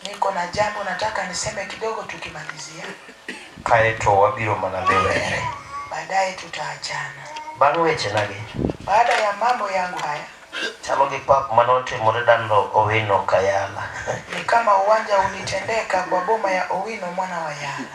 Niko na jambo nataka niseme kidogo tukimalizia. Kae to wabiro mana liwere. Baadaye tutaachana. Bang' wechenagi. Baada ya mambo yangu haya. Chalo gi pap mane otimore dando Owino Kayala. Ni kama uwanja ulitendeka kwa boma ya Owino mwana wa Yala.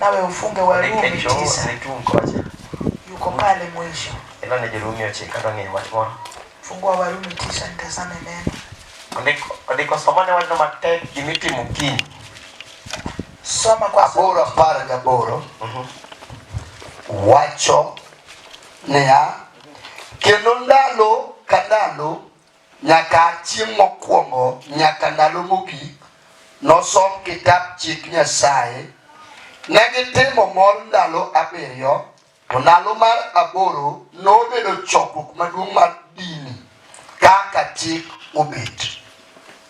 nawe ufunge Warumi tisa yuko pale mwisho. Ila ni Jerumi oche kata ni wach moro. Fungua Warumi tisa nitazame neno. Andiko andiko somane wach namba 10 gimitimo kiny. Soma kwa aboro apar gaboro. Mhm. Wacho niya kendo ndalo ka ndalo Nyaka chieng' mokwongo nyaka ndalo mogik nosom kitap chik Nyasaye. Ne gitimo mor ndalo abiriyo, to ndalo mar aboro nobedo chokruok maduong' mar dini kaka chik obet.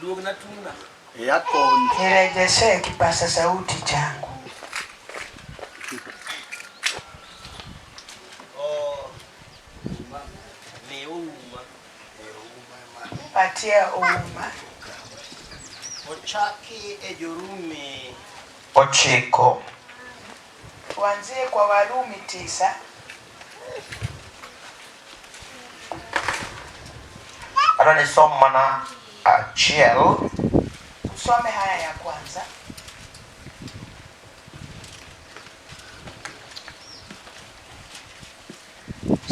Duogna tungna. Iya koni. Nirejeshe kipasa sauti changu. Oh, Patia uma. Ochaki e jorumi. Ochiko. Tuanzie kwa Warumi tisa Hata nisom mana achiel. Usome haya ya kwanza.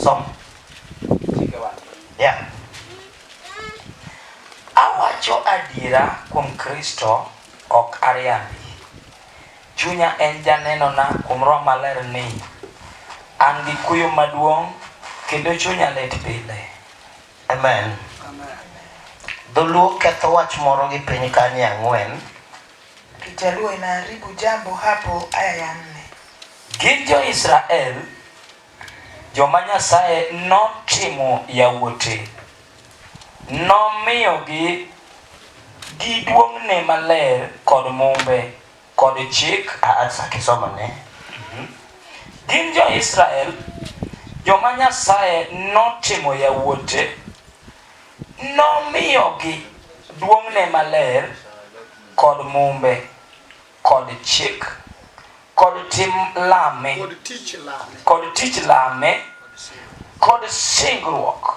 Som. Yeah. Awacho adiera kuom Kristo ok ariambi. Chunya en janenona kuom Roho Maler ni an gi kuyo maduong' kendo chunya lit pile. Amen. Dholuo ketho wach moro gi piny kanye ang'wen. Kijaluo inaharibu jambo hapo aya ya nne. Gin jo-Israel joma Nyasaye notimo yawuote. Nomiyogi gi duong'ne maler kod Mumbe. Kod chik, a achak isom ane. Gin jo Israel joma Nyasaye notimo yawuote, nomiyogi duong'ne maler kod mumbe kod chik kod tim lame kod tich lame kod singruok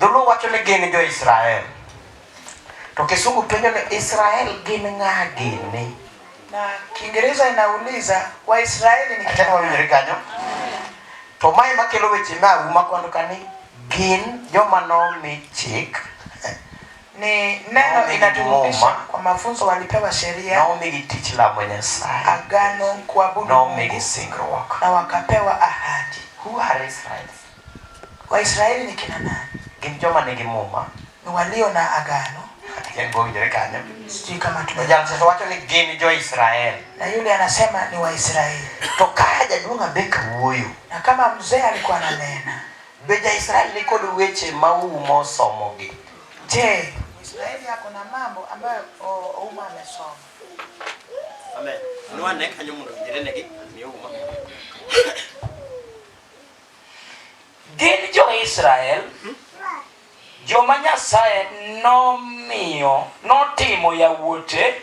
Dholuo wacho ni gin jo Israel. To Kisugu penjo ni Israel gin ng'a gini? Na Kiingereza inauliza Waisraeli ni kina nani? kanyo. To mae makelo weche ma uma kwando kani gin joma nomi chik ni neno inaturudisha kwa mafunzo walipewa sheria na omigi tich lamo Nyasaye, agano kuabudu Mungu na wakapewa ahadi. Who are Israelites? Waisrael ni kina nani? Gin joma nigi Muma. Ni waliyo na agano. Yaani kwa winjore kanyo. Sijui kama tume. Jana sasa wacho ni gin jo Israel. Na yule anasema ni wa Israel. To kaya jaduong' abeka wuoyo. Na kama mzee alikuwa ananena. Be ja Israel ni kod weche ma umo somogi. Je, Israeli yako na mambo ambayo Ouma amesoma. Amen. Nwa ne kanyo mundo jirene gi ni Ouma. Gin jo-Israel joma Nyasaye nomiyo notimo yawuote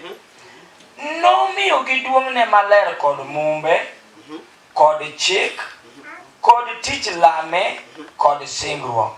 nomiyogi duong'ne maler kod mumbe kod chik kod tich lame kod singruok.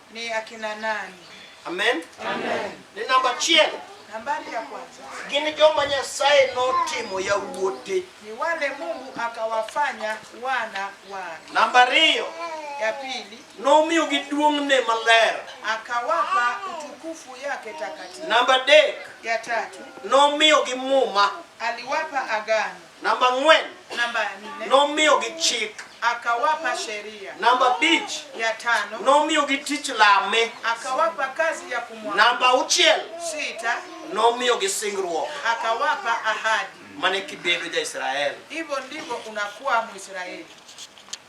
Ni akina nani? Amen. Amen. Ni namba achiel. Nambari ya kwanza. Gin joma Nyasaye notimo yawuote. Ni wale Mungu akawafanya wana wake. Namba ariyo. Ya pili. Nomiyogi duong'ne maler. Akawapa utukufu yake takatifu. Namba adek. Ya tatu. Nomiyogi muma. Aliwapa agano. Namba ang'wen, Namba ya nne, nomiyogi chik. akawapa sheria. Namba abich, Ya tano, nomiyogi tich lame. akawapa kazi ya kumwabudu. Namba auchiel, Sita, nomiyogi singruok akawapa ahadi. mane kibedo ja-Israel. Hivyo ndivyo unakuwa Mwisraeli.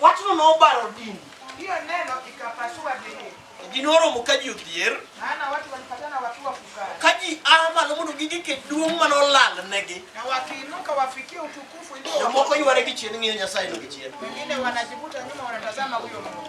Wachno nobaro din. Hiyo neno ikapasua dini. Ji noromo ka ji odhier. Maana watu walipatana wakiwa fukara. Ka ji a malo mondo gigike duong' ma nolalnegi. Na wakiinuka wafikie utukufu ulio. Jomoko yware gi chien ng'iyo Nyasaye no gi chien. Wengine wanajivuta nyuma wanatazama huyo Mungu.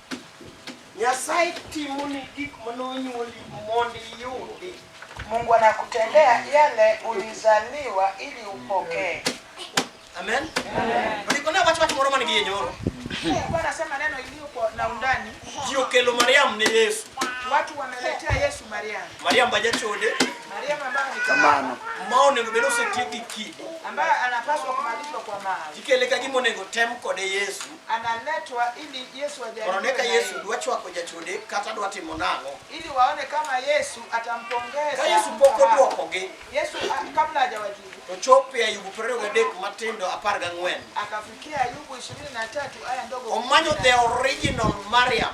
Nyasaye timoni gik mane onyuoli mondo iyudi. Mungu anakutendea yale ulizaliwa ili upokee. Amen. Ndiko ne wacho wach moro man gi yenyoro. Mungu anasema neno iliyo kwa na undani. Ji okelo Mariam ne Yesu. Watu wameletea Yesu Mariam. Mariam bajachode. Mariam ambaye ni kamano. Ma onego bed osetieki kidi. Ambaye anapaswa kumalizwa kwa mawe. Ikele ka gima onego tem kode Yesu. analetwa ili Yesu ajaribiwe Mondo neka na Yesu yeye. dwa chwako jachode kata dwa timo nang'o. ili waone kama Yesu atampongeza. Ka Yesu pok mfahamu. odwokogi, Yesu a- kabla hajawajibu to chop e Ayubu piero ariyo gadek matindo apar gang'wen. akafikia Ayubu 23 aya ndogo. Omanyo the original Mariam.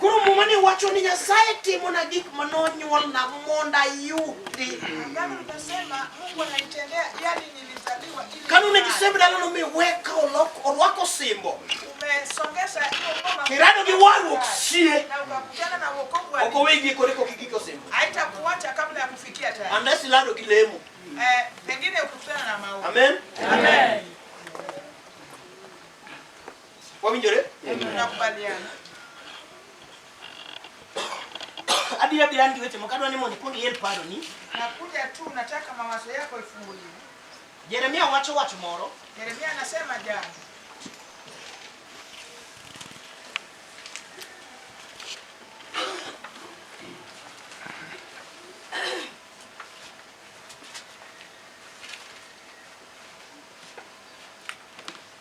Koro muma ni wacho ni Nyasaye timona gik ma nonyuolna mondo ayudi. Kanu ne gisembe dala nomiweka orwako osimbo kirado gi warruok sie ok owegi kore kok igik osimbo unless ilado gi lemo eh, amen, amen. amen. Wawinjore? Nakubaliana. Abiro abiro an gi weche moko adwa ni mondo ikwong iel paroni. Nakuja tu nataka mawazo yako ifunguliwe. Jeremia wacho wach moro. Jeremia anasema jambo.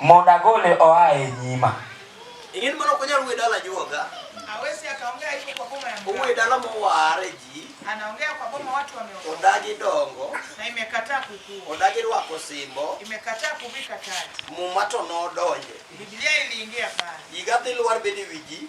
Mondo agole oa e nyima. Ing'eni mano ok onyal we dala juoga. Hawezi akaongea hivyo kwa boma ya mganga. Uwe dala moware ji. Anaongea kwa boma watu wameokoka. Odagi dongo. Na imekataa kukua. Odagi rwako simbo. Imekataa kuvika taji. Muma to nodonje. Biblia iliingia pale. Yiga dhi lwar bedi wiji.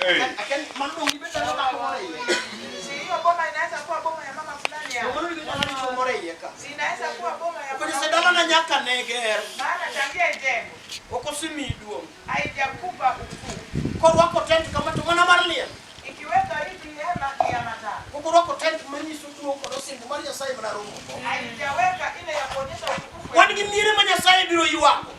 Hey. Ukinisedana na nyaka neger okosimii duong' korwako tent kama to mana mar liel okorwako tent manyiso duong' kod osimbo mar Nyasaye mana romo wan gi miere ma Nyasaye biro ywako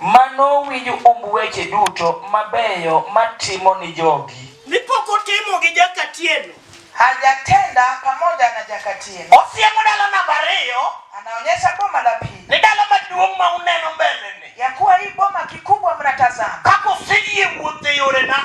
Ma nowinj umb weche duto mabeyo matimo ni jogi. Ni pok otimo gi Jakatieno. Hajatenda pamoja na Jakatieno. Osiemo dala namba ariyo. Anaonyesha boma la pili. Ni dala maduong' ma uneno mbele ni. Ya kuwa hii boma kikubwa mnatazama. Kaka useyie wuotho e yorena.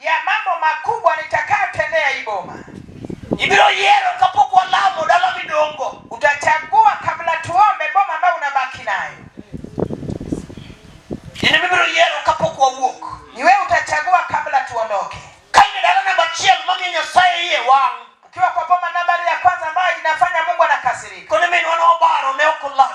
ya mambo makubwa nitakayotendea hii boma. Ibiro yiero kapok walamo dala midongo, utachagua kabla tuombe boma ambayo unabaki nayo. Yaani ibiro yiero kapok wawuok, ni wewe utachagua kabla tuondoke. Kaine dala namba achiel mamiyo Nyasaye iye wang' ukiwa kwa boma nambari ya kwanza ambayo inafanya Mungu anakasirika. Kone min wana obaro ne okolami.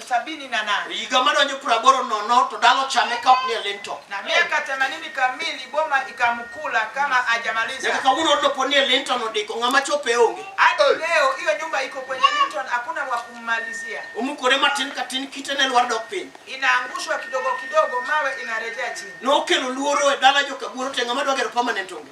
sabini na nane higa madonjo piero aboro nono to dala ochame ka ok ni e linto na miaka themanini kamili boma ikamkula kama nyaka hajamaliza. kawuono odno pod ni e linto nodiko ng'ama chope onge Hadi leo hiyo nyumba iko kwenye Linton, hakuna wa kummalizia, omukore matin ka tin kite ne lwar dok piny inaangushwa kidogo kidogo, mawe inarejea chini. nokelo luoro e dala jokaguoro te ng'ama dwa gero permanent onge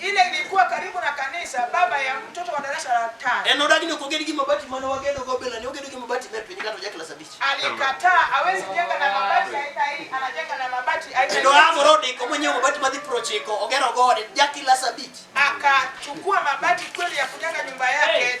Ile ilikuwa karibu na kanisa, baba ya mtoto wa darasa la tano. En odagi ni ok oged gi mabati mane wagedo go bila, ne ogedo gi mabati mer piny kata oja klas abich. Alikataa hawezi jenga na mabati aina hii, anajenga na mabati aina Kendo hii. Amoro odiko monyiewo mabati madhi prochiko, ogero go ode ja klas abich. Akachukua mabati kweli ya kujenga nyumba yake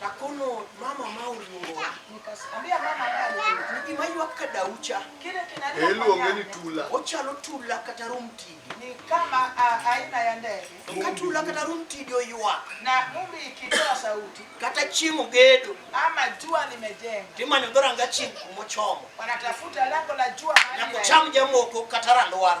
Nakono mama ma oluongo. Ambia mama ni gima ywak ka daucha. Kile kinalia. Eluonge ni tula. Ochalo tula kata rumtigi. Ni kama aina ya ndege. Ka tula kata rumtigi oywak. Na mumbi ikitoa sauti. Kata chieng' ogedo. Ama jua limejenga. Timanyo dhoranga chieng' kumochomo. Wanatafuta lango la jua. Na kucham jamoko kata randwara.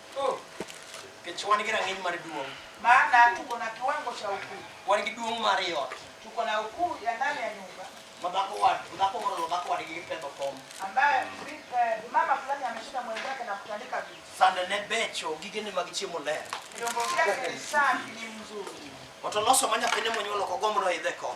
Oh, nikech wan gi rang'iny mar duong'. maana tuko na kiwango cha ukuu, Wan gi duong' mar i ot. tuko na ukuu ya ndani ya nyumba Ma dhako wad, dhako moro lo dhako wadgi gi pedho kom. ambaye bi- eh, mama fulani ameshinda mwenzake na kutandika vitu, Sande ne becho, gigene mag chiemo ler. vyombo vyake ni safi, ni mzuri. Oto loso ma nyathine monyuolo kogombo noidhe kom.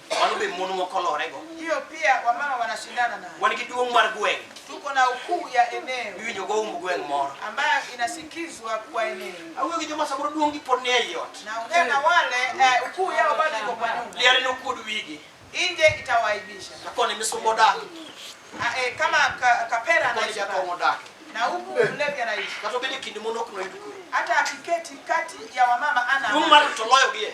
Mano be mon moko olorego. Hiyo pia wamama wanashindana nayo. Wan gi duong' mar gweng'. Tuko na ukuu ya eneo Miwinjo go umb gweng' moro. ambayo inasikizwa kwa eneo. Awuoyo gi joma samoro duong'gi pod ni ei ot. Naongea na wale eh, ukuu yao bado iko kwa nyumba, Liare nokuod wigi. nje itawaaibisha. Lakoni misumba odak. Ah, eh, kama ka, kapera Lakoni anaishi jakong'o pale. odak. na huku mlevi anaishi, Kata obed e kind mon ok noyud kwe. hata akiketi kati ya wamama ana Duong' amani. mar to loyogi e.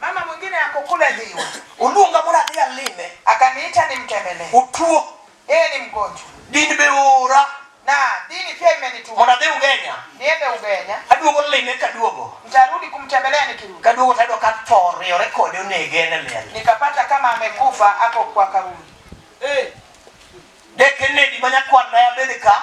Mama mwingine ako kule Dhiwa, uluonga mondo adhi alime, akaniita nimtembele, utuo, yeye ni mgonjwa, dini be ora na dini pia imenituma mondo adhi Ugenya, niende Ugenya, aduogo lime, kaduogo nitarudi kumtembelea, nikirudi kaduogo tayudo ka tho riwore kode, onege en e liel, nikapata kama amekufa ako kwa kaburi. Dekenedi ma nyakwan na bende ka